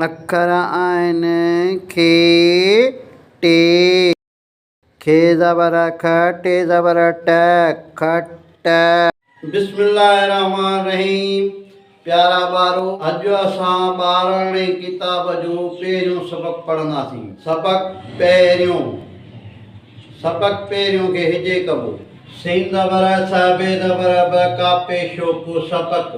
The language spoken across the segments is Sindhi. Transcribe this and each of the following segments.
اکر آهن کي ٽي. کي زبر کھ ٽي زبر ٽھ کٽ. بسم الله الرحمٰن الرحيم پيارا ٻارو اڄ اسان ٻاراڻي ڪتاب جو پهريون سبق پڙهنداسين سبق پهريون سبق پهريون کي هجي ڪبو سين زبر سھ بي زبر ب ڪاپي شوڪو سبق.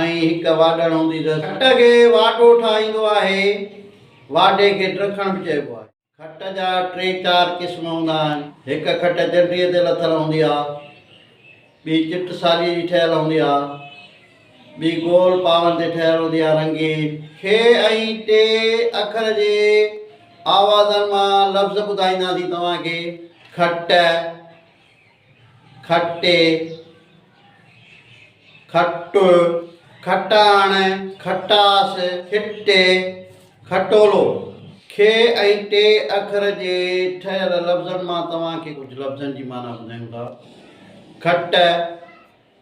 ۽ هڪ واڍڻ هوندي ته کٽ کي واڍو ٺاهيندو آهي. واڍي کي ٽرکڻ به چئبو آهي. کٽ جا ٽي چار قسم هوندا آهن. هڪ کٽ جنڊيء تي لٿل هوندي آهي. ٻي چٽ ساليء جي ٺهيل هوندي آهي. ٻي گول پاون تي ٺهيل هوندي آهي رنگين. کي ۽ ٽي اکر جي آوازن مان لفظ ٻڌائينداسين توهان کي. کٽ. کٽي، کٽ، کٽاڻ، کٽاس، کٽي، کٽولو، کي ۽ ٽي اکر جي ٺهيل لفظن مان توهان کي ڪجهه لفظن جي معنيٰ ٻڌايون ٿا، کٽ،